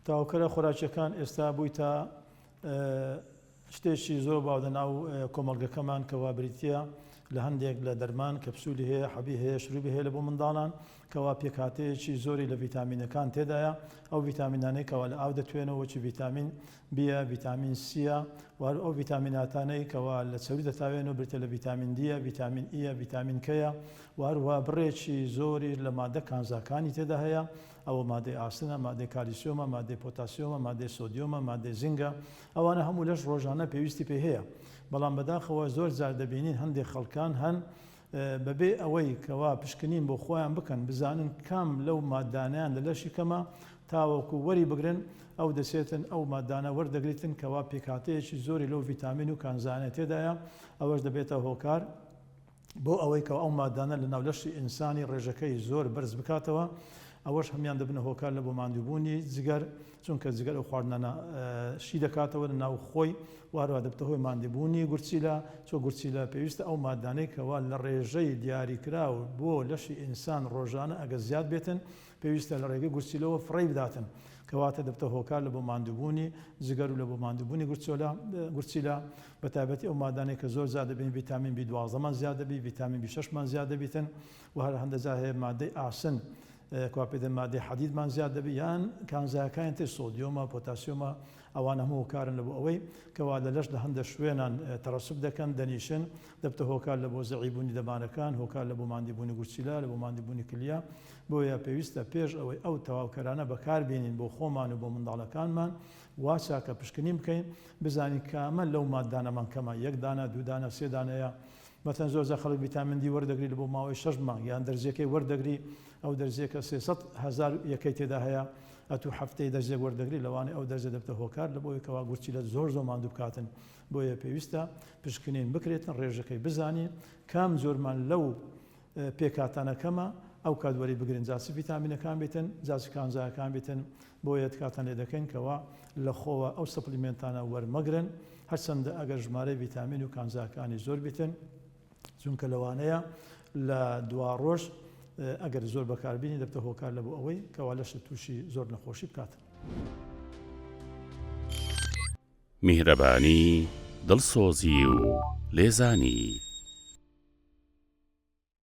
تاوکەرە خۆراکیەکان ئێستا بویتە شتێکی زۆر باو لە ناو کۆمەڵگەکەمان کەوا بریتە لە هەندێک لە دەرمان کەپسولی هەیە حەبی هەیە شروبی هەیە لە بۆ منداڵان کەوا پێکاتەیەکی زۆری لە ڤیتامینەکان تێدایە ئەو ڤیتامینانەی کەوا لە ئاو دەتوێنەوە چی ڤیتامین بیە ڤیتامین سیە وار ئەو ڤیتامیناتانەی کەوا لە چەوری دەتاوێن و برتە لە ڤیتامین دیە ڤیتامین ئیە ڤیتامین کەیە واروا بڕێکی زۆری لە مادە کانزاکانی تێدا هەیە ئەوە مادەی ئاسنە، مادەی کالیسیۆمە، مادەی پۆتاسیۆمە، مادەی سۆدیۆمە، مادەی زینگە، ئەوانە هەموو لەش ڕۆژانە پێویستی پێی هەیە، بەڵام بەداخەوە زۆر جار دەبینین هەندێک خەڵکان هەن بەبێ ئەوەی کەوا پشکنین بۆ خۆیان بکەن بزانن کام لەو ماددانەیان لە لەشی کەمە تاوەکو وەری بگرن ئەو دەچێتن ئەو ماددانە وەردەگریتن کەوا پێکهاتەیەکی زۆری لەو ڤیتامین و کانزانە تێدایە ئەوەش دەبێتە هۆکار بۆ ئەوەی کە ئەو مادانە لە ناو لەشی ئینسانی ڕێژەکەی زۆر بەرز بکاتەوە ئەوەش هەموان دەبنە هۆکار لە بۆ ماندووبوونی جگەر چونکە جگەر ئەو خواردنانە شی دەکاتەوە لە ناو خۆی واروا دەبتە هۆی ماندووبوونی گورچیلە چۆ گورچیلە پێویستە ئەو مادانەی کەوا لە ڕێژەی دیاریکراو بۆ لەشی ئینسان ڕۆژانە ئەگە زیاد بێتن پێویستە لە ڕێگەی گورچیلەوە فڕی بداتن کەواتە دەبتە هۆکار لە بۆ ماندووبوونی جگەر و لە بۆ ماندووبوونی گورچۆلە گورچیلە بەتایبەتی ئەو مادانەی کە زۆر زیاد دەبین ڤیتامین بی دوازدەمان زیاد دەبی ڤیتامین بی شەشمان زیاد دەبیتن و هەر هەندە جار هەیە مادەی ئاسن کوا پێ دەن مادەی حەدیدمان زیاد دەبی یان کانزایەکانی تر سۆدیۆمە پۆتاسیۆمە ئەوان هەموو هۆکارن لە بۆ ئەوەی کەوا لە لەش لە هەندە شوێنان تەرەسب دەکەن دەنیشن دەبتە هۆکار لە بۆ زەعیبوونی دەمارەکان هۆکار لە بۆ ماندیبوونی گورچیلا لە بۆ ماندیبوونی کلیا بۆیە پێویستە پێش ئەوەی ئەو تەواوکەرانە بەکاربیێنین بۆ خۆمان و بۆ منداڵەکانمان وا چاکە پشکنین بکەین بزانین کامە لەو ماددانەمان کەمە یەک دانە دوو دانە سێ دانەیە مەتەن زۆرجار خەڵک ڤیتامین دی وەردەگری لەبۆ ماوەی شەش مانگ یان دەرزیەکەی وەردەگری ئەو دەرزیەکە سێ سەد هەزار یەکەی تێدا هەیە ئەتوو هەفتەی دەرزێک وەردەگری لەوانەیە ئەو دەرزە دەبتە هۆکار لەبۆی کەوا گورچیلەت زۆر زۆر ماندوو بکاتن بۆیە پێویستە پشکنین بکرێتن ڕێژەکەی بزانین کام جۆرمان لەو پێکهاتانەکەمە ئەوکات وەری بگرن جا چ ڤیتامینەکان بیتن جا چ کانزایەکان بیتن بۆیە تکاتان لێ دەکەین کەوا لە خۆوە ئەو سەپلیمێنتانە وەرمەگرن هەرچەندە ئەگەر ژمارەی ڤیتامین و کانزاکانی زۆر بیتن چونکە لەوانەیە لە دوا ڕۆژ ئەگەر زۆر بەکاربینی دەبتە هۆکار لە بۆ ئەوەی کەوا لەشت تووشی زۆر نەخۆشی بکات. میهرەبانی دڵسۆزی و لێزانی.